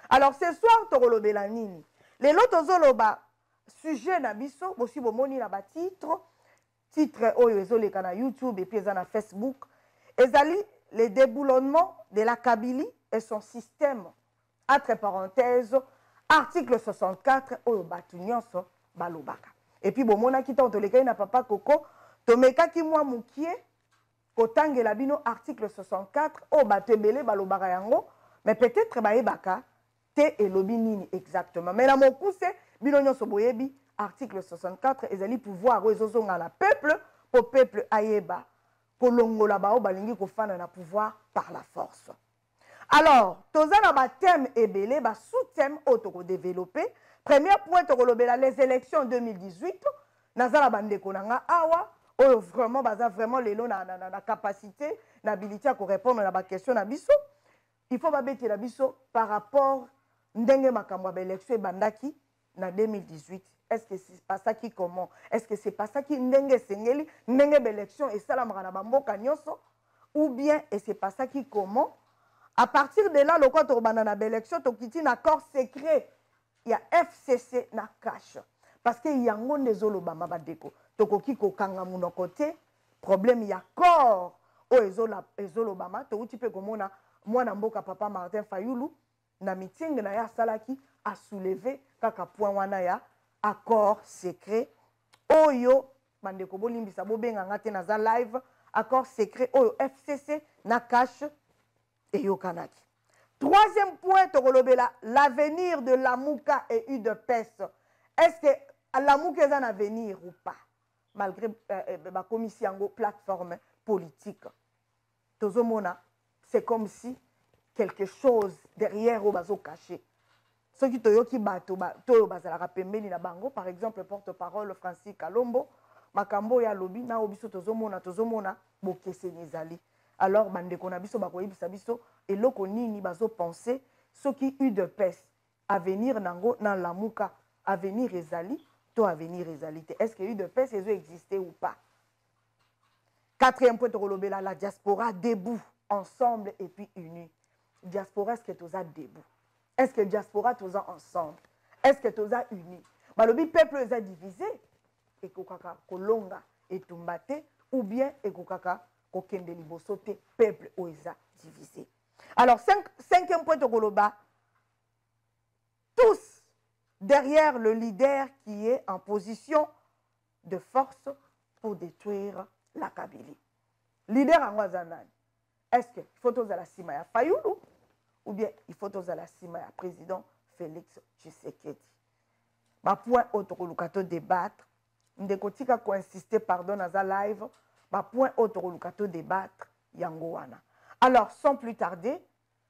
alors ce soir tokolobela nini lelo tozoloba sujet na biso bosi bomoni na batitre titre oyo ezoleka na youtube epuis eza na facebook ezali le déboulonnement de la kabili et son système entre parenthèse article 64 oyo bato nyonso balobaka epuis bomonaki ntango tolekaki na papa koko tomekaki mwa mokie kotangela bino article 64 oyo bato ebele balobaka yango mais peut-être bayebaka te elobi nini exactement mais na mokuse bino nyonso boyebi article 64 ezali pouvoir oyo ezozonga na peuple mpo peuple ayeba kolongola baoyo balingi kofanda na pouvoir par la force alors toza na ba thème ebele ba sous thème oyo toko développer premier point tokolobela les élections 2018 naza na bandeko na nga awa oyo vraiment baza vraiment lelo na, na, na, na capacité na habilité ya korépondre na baquestion na biso il faut babetela biso par rapport ndenge makambo ya baélection ebandaki na 2018 est ce que se passaki comment est ce que se passaki ndenge esengeli ndenge baélection esalamaka na bamboka nyonso ou bien ese passaki comment à partir de là lokola tokobanda na baélection tokiti na accord secret ya fcc na cash parce que yango nde ezolobama bandeko tokoki kokanga monoko te problème ya corps oyo ezolobama touti mpe komona mwana mboka papa martin fayulu Na meeting na ye asalaki, a soulever kaka point wana ya accord secret oyo bandeko bolimbisa bobenga nga te naza live accord secret oyo fcc na cash eyokanaki troisième point tokolobela l'avenir de lamuka et udps est ce que lamuka eza na avenir ou pas malgré euh, euh bakomisi yango plateforme politique tozo mona c'est comme si quelque chose derrière oyo bazo cacher soki toyoki bato toyo bazalaka pembeni na bango par exemple porte parole francis kalombo makambo oyo alobi na oyo biso tozomona tozomona bokeseni ezali alors bandeko na biso bakoyebisa biso eloko nini bazopense soki udps avenir nango na lamuka avenir ezali to avenir ezali te est ce que udps ezo existe ou pas Quatrième point tokolobela la diaspora debout ensemble et puis unis. Diaspora est-ce que toza debout? Est-ce que diaspora toza ensemble? Est-ce que toza unis? Balobi peuple eza divisé ekokaka kolonga etumba te ou bien ekokaka kokende liboso te peuple oyo eza divisé. Alors cinq, cinquième point tokoloba tous derrière le leader qui est en position de force pour détruire la kabylie leader yango aza nani est ce que il faut tozala nsima ya fayulu ou bien il faut tozala nsima ya président félix tshisekedi bapoint oyo tokoluka to débattre ndeko tika koinsiste pardon naza live bapoint oyo tokoluka to débattre yango wana alors sans plus tarder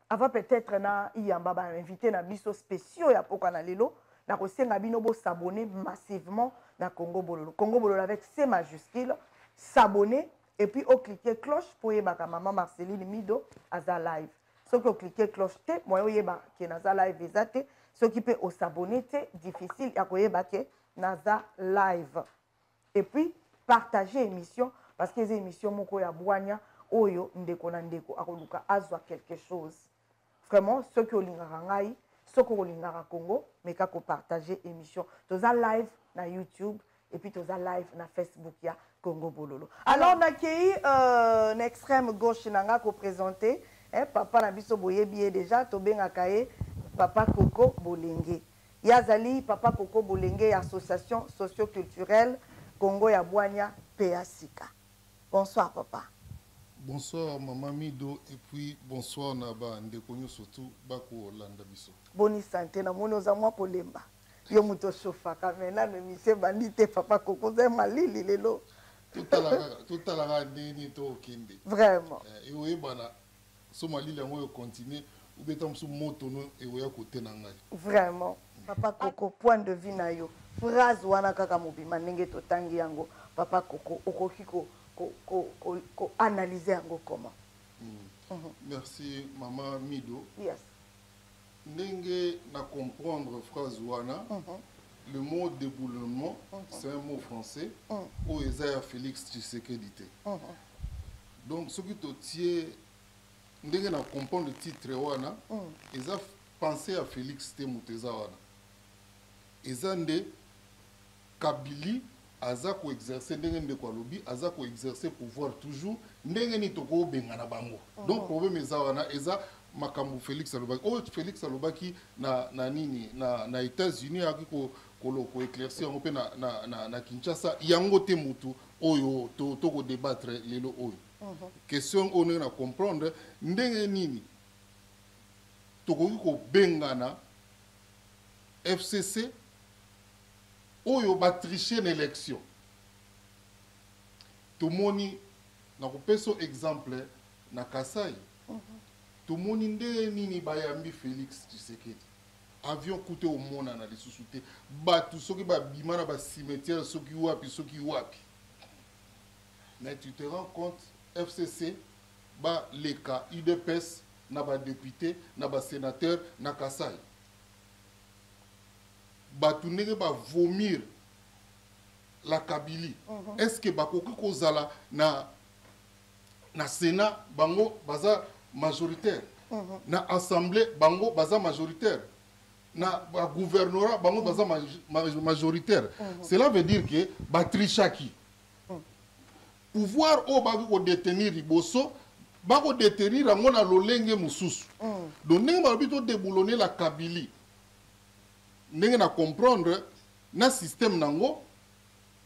Avant peut-etre na iyamba ba invite na biso speciaux ya poka na lelo na kosenga bino bo s'abonner massivement na Congo Bololo. Congo Bololo avec C majuscule s'abonner et puis au cliquer cloche pour yebaka maman Marceline Mido aza live. Soki o cliquer cloche te moyo yeba ke naza live eza te. Soki pe o s'abonner te difficile ya koyeba ke naza live. et puis partager emission parce que eza emission moko ya bwanya oyo ndeko na ndeko akoluka azwa quelque chose vraiment soki olingaka ngai soki olingaka congo meka kopartage émission toza live na youtube et puis toza live na facebook ya congo bololo alors nakei euh, na extrême gauche na ngai kopresente eh, papa na biso boyebi ye déjà tobengaka ye papa koko bolenge Ye azali Papa Koko Bolenge ya Association Socio-Culturelle Kongo ya Bwanya mpe ya Sika. Bonsoir Papa. Bonsoir maman Mido et puis bonsoir na ba ndeko nyoso tout ba ko landa biso. Boni sante na moni oza mwa kolemba. Yo moto ochauffaka mais nanu emission ebandi te Papa Koko oza malili lelo. Totalaka totalaka ndenge nini tokende. Vraiment. Eh, eoyebana. so malili yango oyo continue ou bien ntango mosusu moto no ekoya kote na ngai vraiment papa koko point de vue na yo phrase wana kaka mobima ndenge totangi yango papa koko okoki ko, ko, ko, ko, ko analyse yango comment mm. Mm -hmm. merci mama mido yes ndenge na comprendre phrase wana mm -hmm. le mot déboulement mm -hmm. c'est un mot français mm -hmm. oyo eza ya félix tshisekedi te mm -hmm. donc soki totie ndenge na comprendre titre wana mm. eza pensée ya félix te moto eza wana eza nde kabili aza koexerce ndenge ndeko alobi aza koexerce pouvoir toujours ndenge nini tokobengana bango mm. donc problème eza wana eza makambo félix alobaki oyo félix alobaki na, na nini na, na états-unis ayaki koéclairci yango mpe na, na, na, na kinshasa yango te motu oyo to to ko débattre lelo oyo mhm. question oyo ndenge na comprendre ndenge nini tokoki kobengana fcc oyo batriche na élection tomoni na kopesa exemple na kasai mhm. tomoni ndenge nini bayambi félix tshisekedi Avion kutu ekomonana lisusu te, batu soki babima na ba cimetière soki wapi soki wapi, mais tu te rends compte FCC ba leka udps na ba depute na ba senateur na Kasai, batu ndenge ba vomir la Kabylie, uh mhm. -huh. est-ce que bakoki kozala na na Sénat bango baza majoritaire mhm. na assemblée bango baza majoritaire na gouvernorat bango baza mhm. majoritaire mhm. cela veut dire que batrichaki pouvoir oyo bakoki kodetenir liboso bakodetenir yango na lolenge mosusu donc ndenge balobi todeboulone la kabili ndenge na comprendre na système nango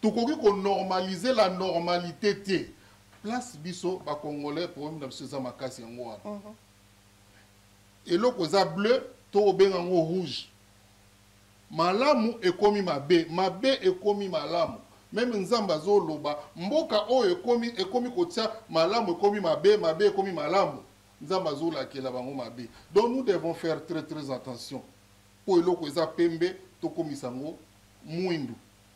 Tokoki ko normaliser la normalite te place biso ba congolais problème na biso eza makasi yango wana uh -huh. eloko eza bleu to obenga yango rouge malamu ekomi mabe mabe ekomi malamu meme nzambe azoloba mboka oyo ekomi ekomi kotia malamu ekomi mabe mabe ekomi malamu nzambe azolakela bango mabe donc nous devons faire très très attention Mpo eloko eza pembe tokomisa yango mwindu,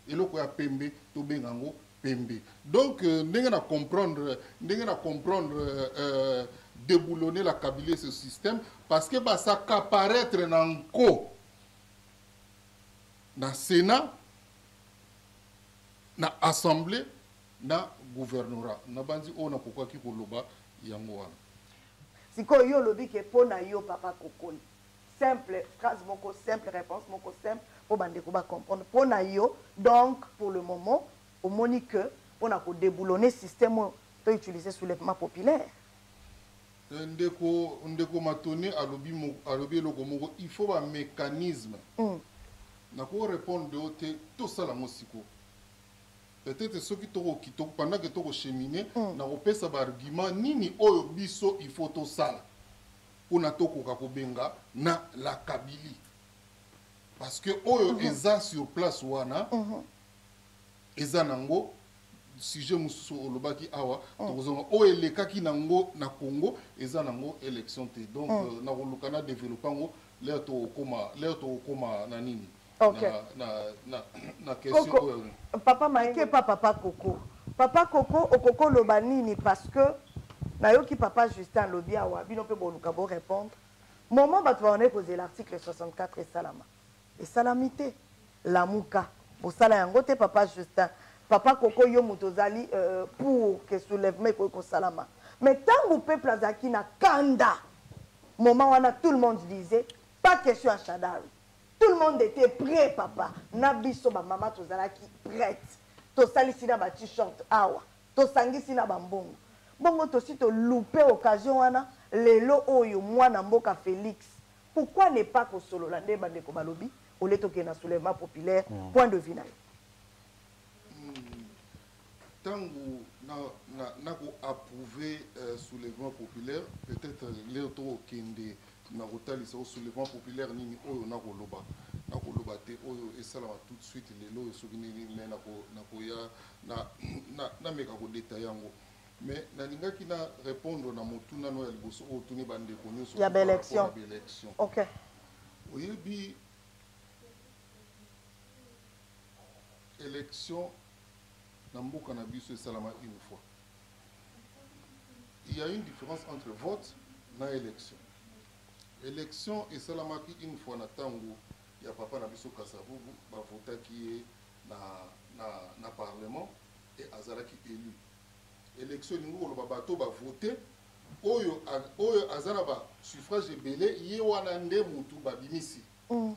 eloko ya pembe tobenga yango pembe. Donc euh, ndenge na comprendre ndenge na comprendre euh, euh, déboulonner la Kabylie ce système parce que ba s'accaparetre na nko na Sénat na assemblée na gouvernorat na banzi oyo nakokaki koloba yango wana sikoyo yo olobi ke mpo na yo papa kokoli Simple phrase moko simple reponse moko simple po ba ndeko ba comprendre po na yo donc pour le moment omoni que po na ko deboulonner système oyo to utiliser soulèvement populaire? Ndeko ndeko Matone alobi moko alobi eloko moko il faut ba mecanismes Hum. na ko repondre yo te to sala yango sikoyo peut-etre soki to ko ki to pendant que to ko cheminer Hum. na ko pesa ba arguments nini oyo biso il faut to sala pona tokoka kobenga na la Kabylie parce que oyo mhm. eza sur place wana mhm. eza nango sujet mosusu olobaki awa oh. tokozonga oyo elekaki nango na congo eza nango élection te donc oh. euh, nakoluka na développe yango lere tokokoma na nini Okay. Na, na, na, na question Koko, oyo. Papa Mike, pa papa Koko. Papa Koko, okoko loba nini parce que nayoki papa Justin lobi awa, bino pe boluka bo répondre. Moment bato bawana ekozela l'article 64 esalama. Esalami te. Lamuka. Bosala yango te papa Justin. Papa Koko yo moto ozali euh, pour que soulèvement ekoki kosalama. Mais tango peuple azalaki na kanda. Moment wana tout le monde disait pas question ya Shadari. Tout le monde etait pret papa na biso ba mama tozalaki prete tosalisi na ba t-shirt awa tosangisi na ba mbongo bongo tosi to loupe occasion wana lelo oyo mwana mboka Felix pourquoi ne pas kosolola nde bandeko balobi olie tokende na soulèvement populaire point de vue na yo tangu na na na ko approuve euh, soulèvement populaire peut-être leo tokokende na kotalisa o soulèvement populaire nini oyo na koloba na koloba te oyo esalama tout de suite lelo oyo soki nini mais na ko na koya na na na meka ko detailler yango mais nalingaki na répondre na motuna no ya liboso oyo tuni bandeko nyonso ya baélection baélection okay. oyebi élection na mboka na biso esalama une fois il y a une différence entre vote na élection élection esalamaki une fois na ntango ya papa na biso kasavubu bavotaki ye na, na, na parlement e azalaki élu élection elingi koloba bato bavote oyo, oyo aza na basuffrage ebele ye wana nde motu babimisi mm.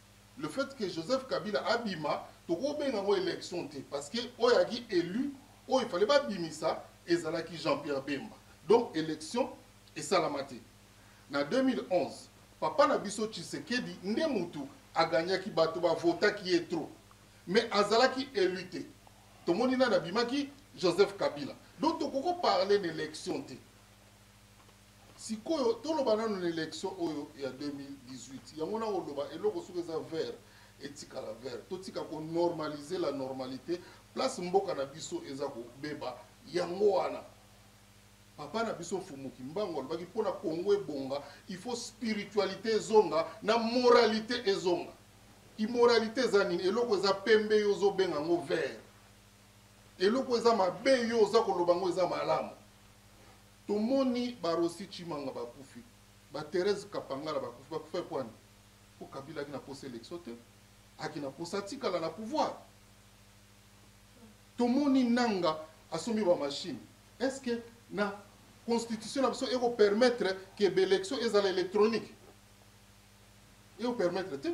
Le fait que Joseph Kabila abima toko benga yango election te parce que oyo aki elu oyo il fallait ba bimisa ezalaki Jean-Pierre Bemba donc election esalama te na 2011 papa na biso Tshisekedi nde mutu a gagnaki bato ba votaki ye trop mais azalaki elu te tomoni nani abimaki Joseph Kabila donc toko ko parler na election te Sikoyo toloba nanu na election oyo ya 2018 yango nako loba eloko soki eza vert etikala vert totika ko normaliser la normalite place mboka na biso eza ko beba yango wana papa na biso mfumu kimbangu alobaki pona congo ebonga il faut spiritualite ezonga na moralite ezonga immoralité eza nini eloko eza pembe yo ozobenga yango vert eloko eza mabe yo oza koloba yango eza malamu Tomoni ba Rossy Tshimanga bakufi, ba Therèse Kapangala bakufi, bakufa epuis wani? Po Kabila ayaki na posa election te, ayaki na posa atikala na pouvoir. Tomoni Nanga asombi ba machines, est ce que na constitution na biso eko permettre que b'elections ezala electronique? Eko permettre te.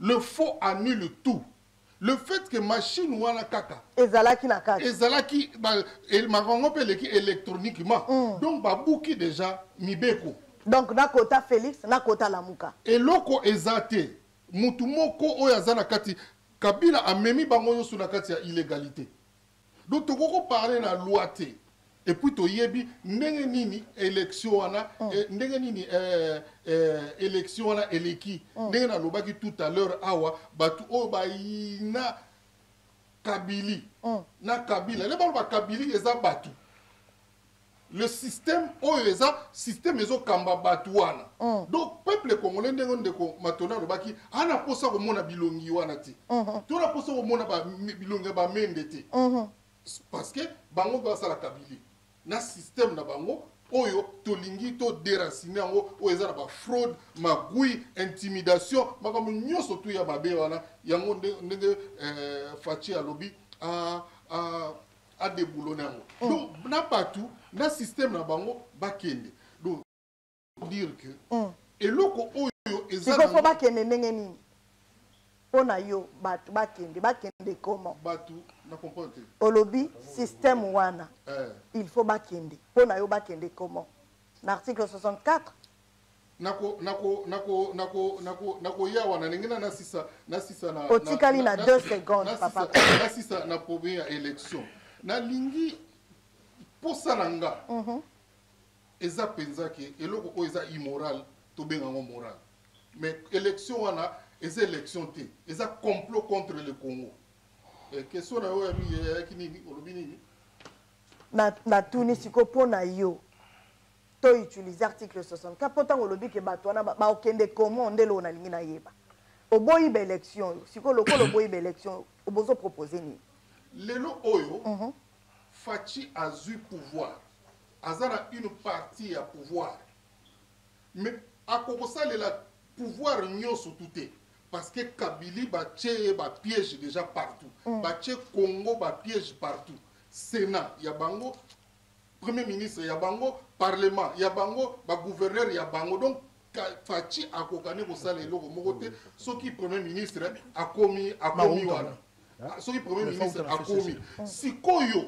Le faux annule tout. Le fait que machine wana kaka ezalaki na kati ezalaki makango mpe eleki électroniquement mm. donc babuki déjà mibeko donc nakota félix nakota lamuka eloko eza te motu moko oyo aza na kati kabila amemi bango nyonso na kati ya illégalité Donc tokoki ko parler na loi te. Et puis toyebi ndenge nini election wana mm. eh, ndenge nini eh, eh, election wana eleki mm. ndenge nalobaki tout à l'heure awa bato oyo bayina kabili mm. na kabila nde baloba kabili eza bato le système oyo eza système ezokamba bato wana mm. donc peuple congolais ndenge ndeko matona alobaki ana mposa komona bilongi wana te mm -hmm. to na mposa komona bilongi ya bamende te mm -hmm. parce que bango mpe basala kabili na système na bango oyo tolingi toderacine yango oyo eza na bafraude magui intimidation makambo nyonso tu ya mabe wana yango ndenge eh, faci alobi ah, ah, adeboulone yango oh. donc na bato na système na bango bakende donc dire que oh. eloko oyo ezafo bakende ndenge nini mpo na yo bato bakende bakende comment bato na comprendre te olobi système wana eh. il faut bakende mpo na yo bakende comment na article 64 nakoya wana ndenge na nasisa nasisa na otikali na 2 secondes papa nasisa na problème ya élection nalingi mposa na nga mhm. eza mpenza ke eloko oyo eza immoral tobenga yango moral mais élection wana eza élection te eza complot contre le congo eh, question na yo yayaki nini olobi nini natuni sikoyo mpo na yo to utiliser article 64 po tango olobi ke bato wana bakende comment nde eloko nalingi nayeba oboyi ba élection oyo sikoyo lokola oboyi ba élection oyo obozo propose nini lelo oyo mm -hmm. faci azwi pouvoir aza na une partie ya pouvoir mais akokosalela pouvoir nyonso tu te parce que kabili batye ye bapiège déjà partout mm. batye congo bapiège partout sénat ya bango premier ministre ya bango parlement ya bango bagouverneur ya bango donc faci akokani kosala eloko moko te soki premier ministre akomi akomi wana ah, soki premier ministre akomi sikoyo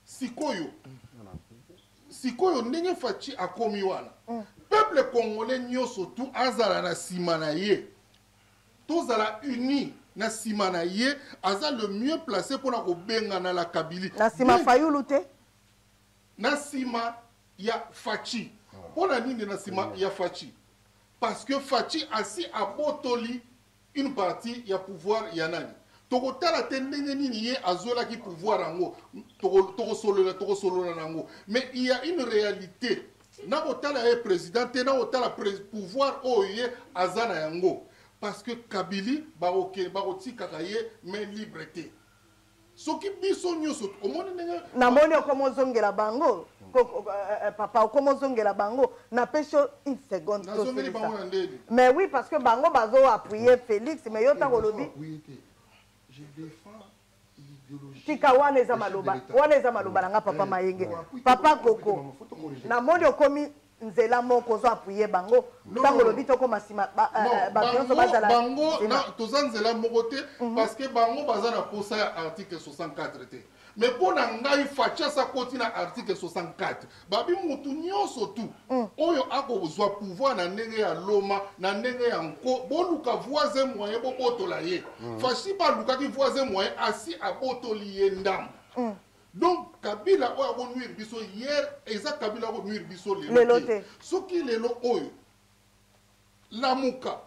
sikoyo sikoyo ndenge faci akomi wana peuple congolais nyonso tu azala na nsima na ye tozala unis na sima na ye aza le mieux placé pona kobengana la kabili na sima fayulu te na sima ya fachi pona nini na sima ya fachi parce que fachi asi abotoli une partie ya pouvoir ya nani tokotala te ndenge nini ye azwelaki pouvoir yango tokosolola tokosolola na yango mais il y a une réalité nakotala ye president te nakotala pouvoir oyo ye aza na yango parce que kabili bakoke bakotikaka ye main libre te soki biso nyonso omoni ndenge namoni okoma ozongela bango eh, eh, papa okoma ozongela bango napesi yo une seconde nazongeli bango na ndeni mais oui parce que bango bazo appuye félix mais yo ntango olobi tika wana eza maloba wana eza maloba na nga papa eh, mayenge papa koko namoni okomi nzela moko ozo apuye bango ntango olobi tokoma nsima eh, bato nyonso bazala bango toza nzela moko te mhm. parce que bango baza na mposa ya article 64 te mais mpo na ngai fachas akoti na article 64 babi mutu nyonso tu mm. oyo akozwa pouvoir na ndenge ya loma na ndenge ya nko boluka voisin moyen bobotola ye mm. fashi balukaki voisin moyen asi abotoli ye ndambo mm. donc kabila oyo akonuire biso hier eza kabila akonuire biso lelo te soki lelo oyo Lamuka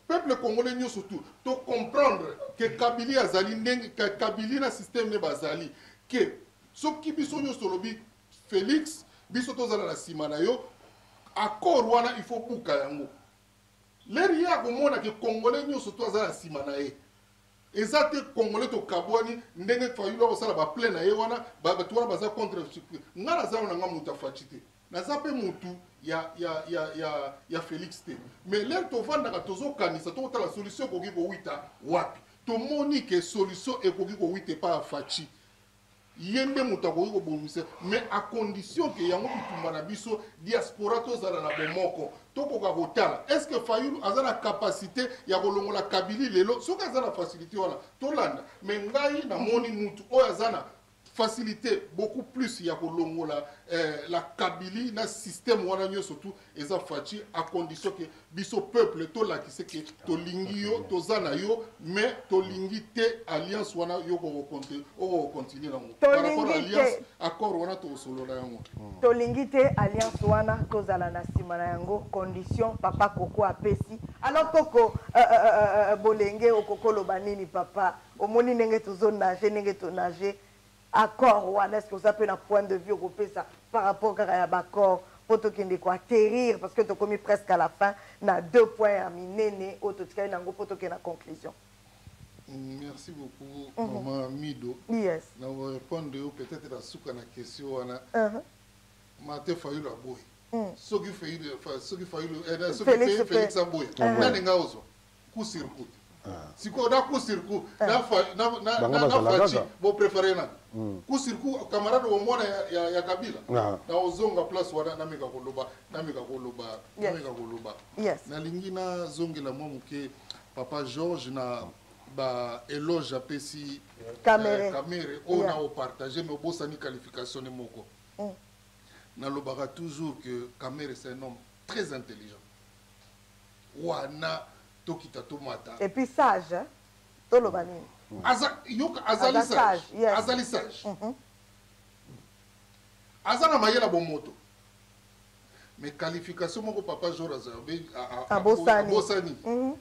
peuple congolais nyoso tu to comprendre que kabili azali ndenge kabili na système ne bazali que soki biso nyoso tolobi Felix biso tozala na sima na yo accord wana il faut buka yango leri ye akomona ke congolais nyoso to aza na sima na ye eza te congolais tokabwani ndenge fayulu akosala baplain na ye wana bato wana baza contre nga naza na nga moto ya faci te naza mpe motu ya, ya, ya, ya, ya felix te mais lere tovandaka tozokanisa tokotala solution ekoki kowita wapi tomoni ke solution ekoki kowita epai ya faci ye nde moto akoki kobongisa mais a condition ke yango bitumba na biso diaspora tozala na bomoko tokoka kotala est ce que fayulu aza na capacité ya kolongola kabili lelo soki aza na facilité wana tolanda mais ngai namoni mutu oyo aza na facilite beaucoup plus ya kolongola eh, la kabili na système wana nyonso tu eza faci à condition ke biso peuple tolakise ke tolingi yo toza na yo mais tolingi te alliance wana yo okokontinue nango par rapport alliance accord wana tokosolola yango hmm. tolingi te alliance wana tozala na nsima na yango condition papa koko apesi alors koko euh, euh, euh, bolenge okokoloba nini papa omoni ndenge tozo nage ndenge to nage accord wana est ce que oza mpe na point de vue okopesa par rapport kaka ya baaccord mpo tokende koatterrir parce que tokomi presque à la fin na deux points ya minene oyo totikali na yango mpo tokende na conclusion merci beaucoup mm -hmm. maman mido yes. na korepondre yo peut-être na suka na question wana uh mhm. -huh. mate fayulu aboyi mm. soki fayulu eh, soki fayulu eh, soki felix aboyi uh -huh. nani nga ozwa coup sur coup sikoyo na coup sur coup na faci boprefere nani coup sur coup camarade omona ya kabila na ozonga place wana nameka koloba nameka koloba nameka koloba nalingi nazongela mwa moke papa georges na ba éloge apesi kamere oyo na opartage me obosani qualification ne moko nalobaka toujours que kamere c'est un homme très intelligent wana tokita tomata et puis sage hein? toloba nini aza yoka azali sage yes. azali sage mm -hmm. aza na mayela bomoto mais qualification moko papa jor azalbe abosani mhm.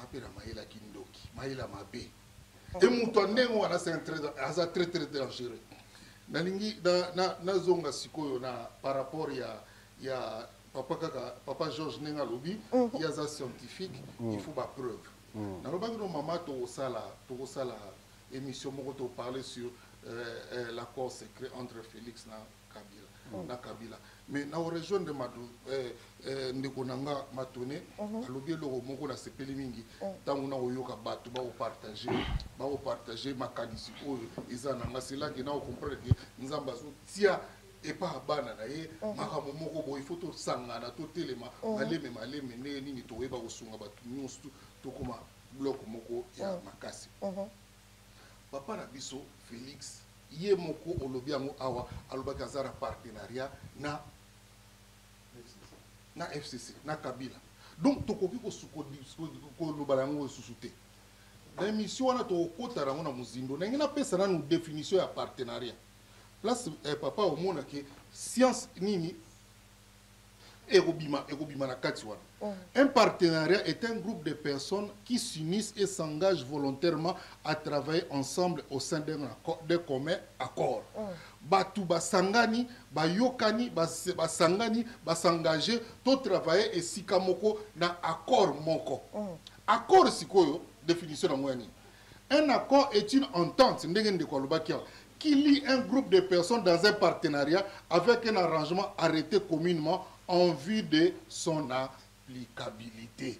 apela mayela kindoki mayela mabe e moto ya ndenge wana aza très très dangereux nalingi nazonga sikoyo na par rapport ya ya papa kaka papa george ndenge alobi mm. ye aza scientifique mm. il faut bapreuve mm. nalobaki no mama tokosala tokosala émission moko toparle sur euh, euh, l'accord secret entre félix na kabila mm. na kabila mais na orejoindre euh, euh, ndeko na nga matone mhm. alobi eloko moko nasepeli mingi mm. ntango nakoyoka bato bakopartage bakopartage makanisi oyo eza na nga selaki nakokomprendre ke nzambe azotia epa ya bana na ye mhm. makambo moko boye ifo tosangana totelema mhm. maleme maleme ndenge nini toyeba kosunga bato nyonso tokoma bloko moko ya mhm. makasi papa na biso félix ye moko olobi yango awa alobaki aza na partenariat na na fcc na kabila donc tokoki koloba na yango lisusu te na émission wana tokokota yango na mozindo ndenge napesa nanu définition ya partenariat place eh, papa omona ke science nini ekobima ekobima na kati wana oh. un partenariat est un groupe de personnes qui s'unissent et s'engagent volontairement à travailler ensemble au sein d'un de commun accord oh. bato basangani bayokani basangani basengage to travailler esika moko na accord moko oh. accord sikoyo définition yango ya nini Un accord est une entente, ndenge ndeko alobaki awa, qui lie un groupe de personnes dans un partenariat avec un arrangement arrêté communément en vue de son applicabilité.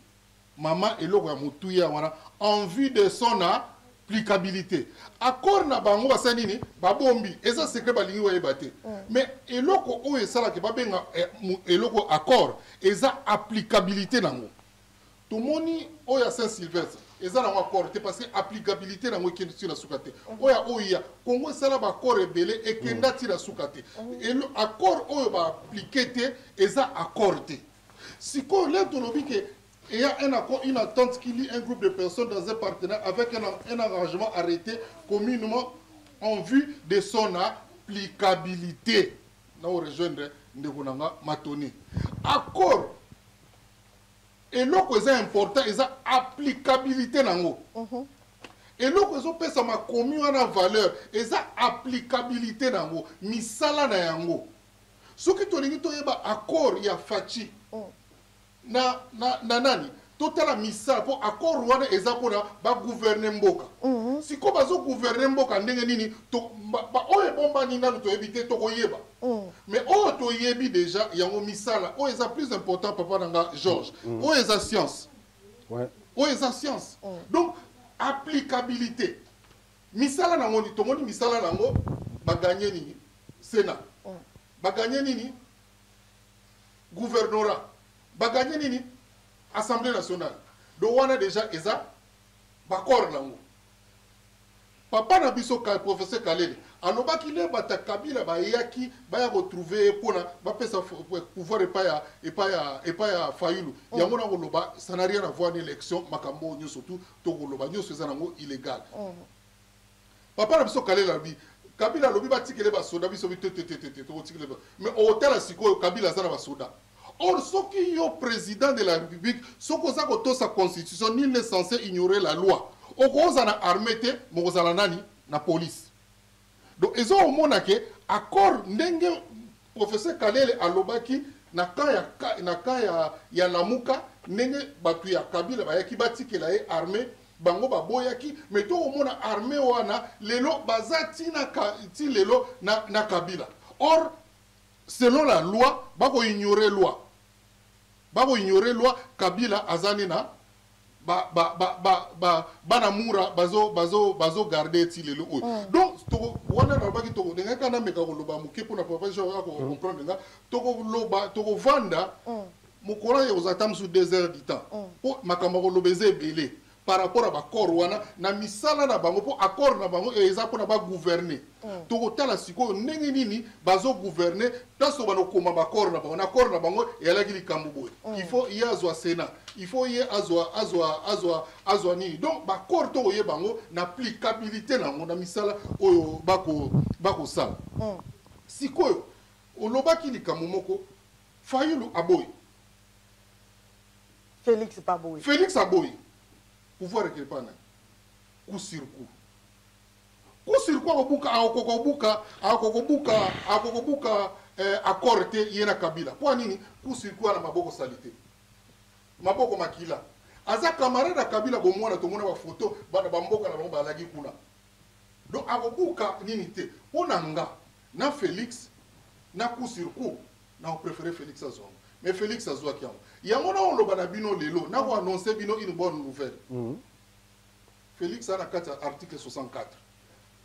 Mama eloko ya motuya wana en vue de son applicabilité. Accord na bango basali nini? Babombi. Eza secret balingi bayeba te. Mm. Mais eloko oyo esalaka babenga eh, eloko accord eza applicabilité nango. tomoni oyo ya saint sylvestre eza nango accord te parce que applicabilité nango ekende ti na suka te mhm. oyo ya oya congo esala baaccord ebele ekenda ti na suka te mhm. accord oyo baaplike te eza accord te sikoyo leo tolobi ke et a un accord, une attente qui lie un groupe de personnes dans un partenariat avec un, un arrangement arrêté communément en vue de son applicabilité. Là, on rejoindrait Ndeko Nanga Matoni. Accord eloko eza important eza applicabilité nango mhm. eloko ezopesa makomi wana valeur eza applicabilité nango misala na yango soki tolingi toyeba accord ya faci mm. na, na, na nani totala misala mpo accord wana eza mpona bagouverne mboka mm -hmm. sikoyo bazogouverne mboka ndenge nini baoyo ebombani nanu toyebi te tokoyeba Mais oyo to yebi dejà yango misala oyo eza plus important papa na nga Georges. Oyo eza science. Ouais. Oyo eza science. Donc applicabilité misala na ngoni tomoni misala na ngo ba gagner nini? Sénat. Ba gagner nini? Gouvernorat. Ba gagner nini? Assemblée nationale. Donc wana dejà eza ba corps na ngo. Papa na biso professeur Kalele alobaki le bata Kabila bayaki baya ko trouver ye pona bapesa pouvoir epa ya epa ya epa ya Fayulu mm. yango na koloba ça n'a rien à voir na election makambo oyo nyonso tu to koloba nyonso eza nango illegal mm. papa na biso Kalele alobi Kabila alobi batikele basoda biso bitetetetete tokotikele mais otala sikoyo Kabila aza na basoda mm. Or soki yo president de la republique soki oza kotosa constitution nul n'est sense ignorer la loi okoza na armee te mokozala nani na police donc eza omona ke accord ndenge professeur kalele alobaki na camp ya na camp ya, ya lamuka ndenge bato ya kabila bayaki batikela ye armee bango baboyaki me to omona armee wana lelo baza ti na ti lelo na, na kabila or Selon la loi bako ignorer loi bako ignorer loi kabila aza nde na ba ba ba ba ba bana mura bazo bazo bazo garder ti lelo oyo mm. donc toko wana na baki toko denga kana meka ko loba muke pona papa jean ya ko mm. comprendre nga toko loba toko vanda mm. mokolo ya kozata musu 2 heures du temps po makambo ko loba eza ebele par rapport à ba corps wana na misala na bango mpo accord na bango eza mpo na ba gouverner mm. tokotala sikoyo ndenge nini bazo gouverner place obana okoma baaccord na bango na accord na bango eyalaki likambo boye mm. il faut ye azwa sénat il faut ye azwa azwa azwa azwa nini donc baaccord tokoyeba yango na applicabilité na yango na misala oyo bakosala bako mm. sikoyo olobaki likambo moko fayulu aboyi Felix pa boyi. Felix aboyi. Pouvoir ekele pa nani? Coup sur coup. Coup sur coup akobuka akokoka obuka akokobuka akokobuka eh, accord te ye na Kabila. Mpo nini? Coup sur coup ana maboko salite. Maboko makila. Aza camarade ya Kabila bomwana tomona ba photo bana ba mboka na bango balagi kuna. Donc akobuka nini te. Mpo na nga na Felix na coup sur coup Na ko prefere Felix azua yango. Mais Felix azuaki yango. Yango nako loba na bino lelo, nako annoncer bino une bonne nouvelle. Felix aza na kati ya article 64.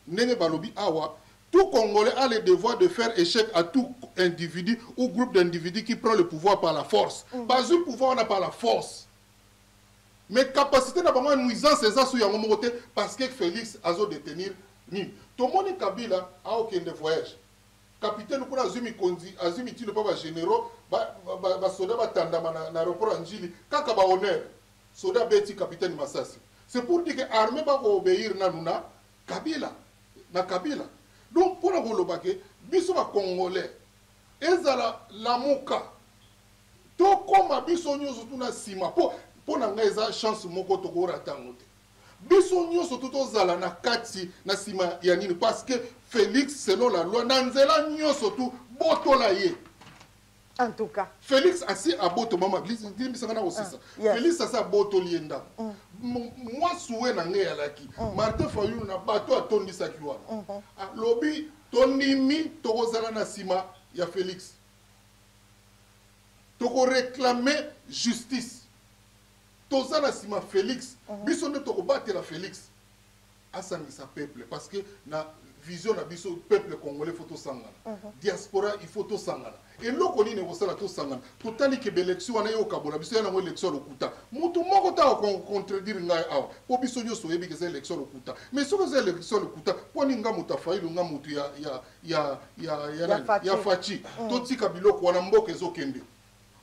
Ndenge balobi awa, tout congolais a le devoir de faire echec à tout individu ou groupe d'individus qui prend le pouvoir par la force. Bazui pouvoir wana par la force. Mais capacite na bango ya nuisance eza sur yango moko te parce que Felix azo detenir nini. Tomoni Kabila akokende voyage. Capitaine kuna azui mikonzi, azui mitindo mpo ba generaux, ba, ba, ba soda batandama na, na aeroport ya Ndjili, kaka ba honneur. Soda abeti capitaine masasi. C'est pour dire que armee ba ko obeir nanu na Kabila, na Kabila. Donc mpo na koloba que biso ba congolais, ezala Lamuka, tokoma biso nionso tuna sima mpo mpo na ngai eza chance moko toko rata yango te. biso nyonso tu tozala na kati na nsima ya nini parce que félix selon la loi na nzela nyonso tu botola ye en tout cas félix asi abotomama limbisanga na kosisa ah, yes. félix asi abotoli ye ndako mm. mwasi we na ngai alaki mm. martin fayulu na bato atondisaki wana mm -hmm. alobi tondimi tokozala na nsima ya félix tokoreklame justice Toza na sima Felix biso nde toko batela Felix asangisa peuple parce que na vision na biso peuple congolais faut tosangana diaspora il faut tosangana eloko nini ekosala tosangana totali ke belection wana ekokabola biso yanango election ya lokuta moto moko ta contredire ngai awa mpo biso nyonso oyebi ke eza election ya lokuta mais soki eza election ya lokuta mpo nini nga moto afailu nga moto ya, ya, ya, ya, ya, ya, ya faci totika biloko wana mboka ezokende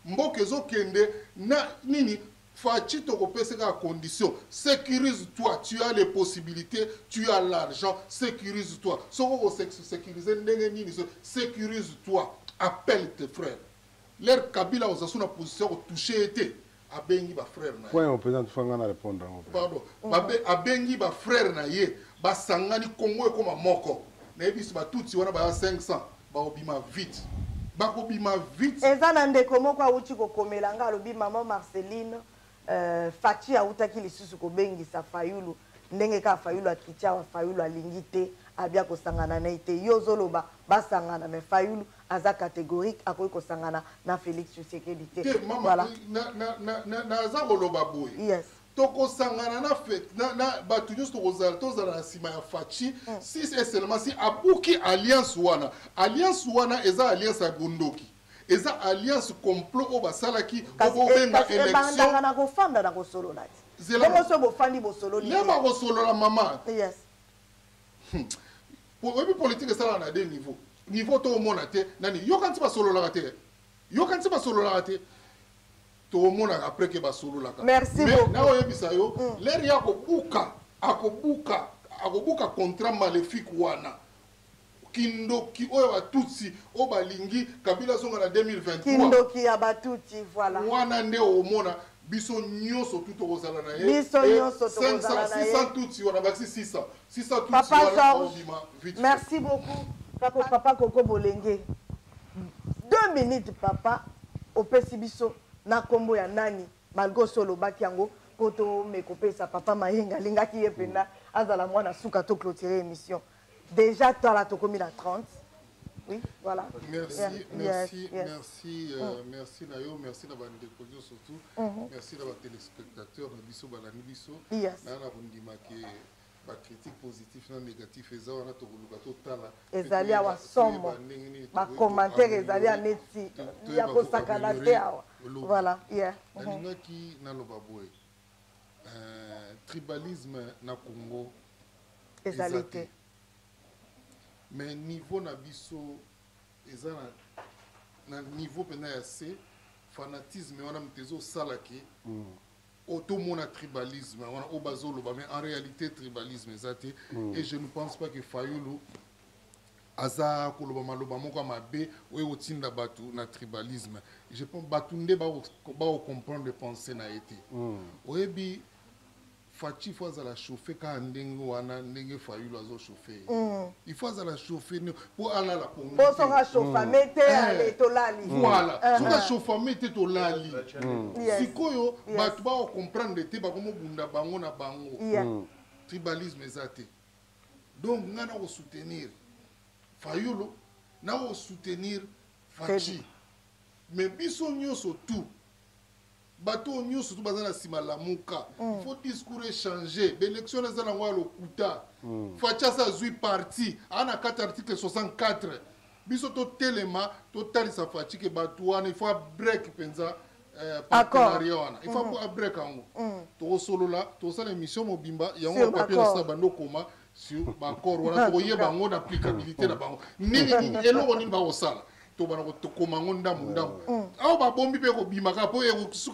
Mboka ezo kende na nini? Fatshi toko pese kaka condition securise toi tu as les possibilites tu as l'argent securise toi soki oko securiser ndenge nini securise toi appelle tes frères leur kabila oza sous na position ya ko touche ye te abengi ba frère na point opeza tufa nga na répondre yango pardon babe abengi ba frère na ye basangani Congo ekoma moko na yebisi ba tutsi wana ba 500 ba obima vite bakobima vite eza na ndeko moko awuti kokomela nga alobi maman Marceline euh, Fatshi awutaki lisusu kobengisa Fayulu ndenge kaka Fayulu akiti awa Fayulu alingi te abia kosangana na ye te yo ozoloba basangana me Fayulu aza categorique akoki kosangana na Felix Tshisekedi te. Te mama voilà. na na na na naza koloba boye. Yes. tokosangana na fete na, na bato nyonso tokozala tozala na nsima ya faci mm. si et seulement si abuki alliance wana alliance wana eza alliance ya bondoki eza alliance complot oyo basalaki okobenga eh, électionebandaka na kofanda na kosolola te bongo soki bofandi bosololi nde bakosolola mama yes. Hmm. Oyebi politique esalaka na deux niveau. Niveau to omona te nani yokanisi basololaka te. Yokanisi basololaka te. Tomonaka après ke basololaka. Merci beaucoup. Mais na oyebisa yo mm. leri ya kobuka akobuka akobuka contrat maléfique wana kindoki oyo ya batutsi oyo balingi kabila azonga na 2023kindoki ya batutsi voilà wana nde omona biso nyonso tu tokozala na ye biso nyonso tokozala na ye 600 tutsi wana bakisi 600 Papa Georges, merci beaucoup. Papa, papa Koko Bolenge. Deux minutes, papa, au Pessibiso, na kombo ya nani, malgré solo bakiango, poto me kopesa papa Mayenga, linga ki yependa, mm. azala mwana suka to clôturer émission. Déjà, toi là, tokomi la 30. Oui, voilà. Merci, yeah. merci, yes, yes. merci, euh, mm. merci na yo, merci na bande de surtout. Mm -hmm. Merci na ba téléspectateurs na biso balandi biso. Yes. Na na kondima ke ba critique positif na négatif eza wana tokoluka totala ezali awa somo ba commentaire ezali ya neti ya kosakana te awa voilà yeah mhm. nalingaki naloba boye euh, tribalisme na Congo ezali te mais niveau na biso eza na, na niveau mpenza ya se fanatisme wana moto ezosala ke mm. otomona tribalisme wana oyo bazoloba mais en réalité tribalisme eza te mm. et je ne pense pas que fayulu aza koloba maloba moko ya mabe oyo ekotinda bato na tribalisme je pense bato nde bakocomprendre pense na ye te mm. oyebi Fatshi faut azala chauffe kaka ndenge wana ndenge Fayulu azo chauffe ye. Mm. Il faut azala chauffe po alala po ngite. Po soka chauffame mm. te eh. ale tolali. Voilà. Eh. Soka chauffame te tolali. Mm. Sikoyo bato ba comprendre te bakomo bunda bango na bango. Tribalisme eza te. Donc nga na ko soutenir Fayulu na ko soutenir Fatshi. Mais biso nyonso tout bato oyo nyonso to baza na nsima lamuka mm. faut discours echange baélection na eza na yango ya lokuta mm. fachas azwi parti aa na kati article 64 biso totelema totalisa fachi ke bato wana il faut abrek mpenza eh, partenariat wana il faut mm. abrek yango tokosolola tokosala émission mobimba yango papier na sila bando okoma sur bacor wana tokoyeba yango na applicabilité na bango nini eloko nini bakosala tobana kotokoma yango ndambo mm. ndambo mm. awa babombi mpe kobimaka mpo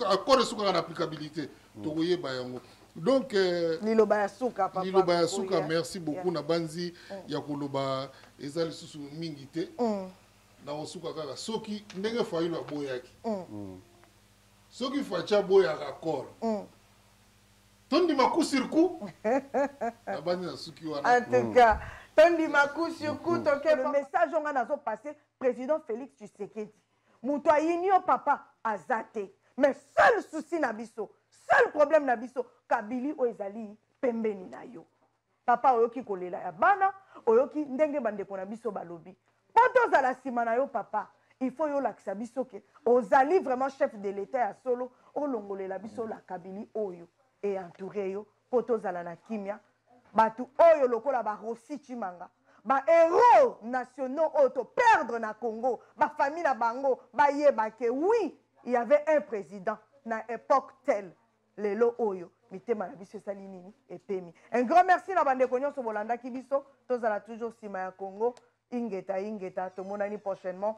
accord esukaka na applicabilité mm. tokoyeba yango donc euh, liloba ya suka papa liloba ya suka merci beaucoup yeah. na banzi mm. ya koloba eza lisusu mingi te mm. nakosuka kaka soki ndenge fayilo aboyaki mm. soki faci aboyaka accord mm. tondima coup sur coup nabandi na suki wana en tout cas tondima coup sur coup mm. toke le message onga nazo passer président Félix Tshisekedi moto ayini yo papa aza te mais seul souci na biso seul problème na biso kabili oyo ezali pembeni na yo Papa oyoki kolela ya bana oyoki ndenge bandeko na biso balobi po tozala nsima na yo papa il faut yo olakisa biso ke ozali vraiment chef de l'etat ya solo olongolela biso la kabili oyo e entoure yo po tozala na kimia bato oyo lokola ba rosi chimanga ba héros nationaux oyo to perdre na congo ba famille na bango bayeba ke oui il y avait un président na epoque telle lelo oyo mitema na biso esali nini epemi un grand merci na bandeko nyonso bolandaki biso tozala toujours nsima ya congo ingeta ingeta tomonani prochainement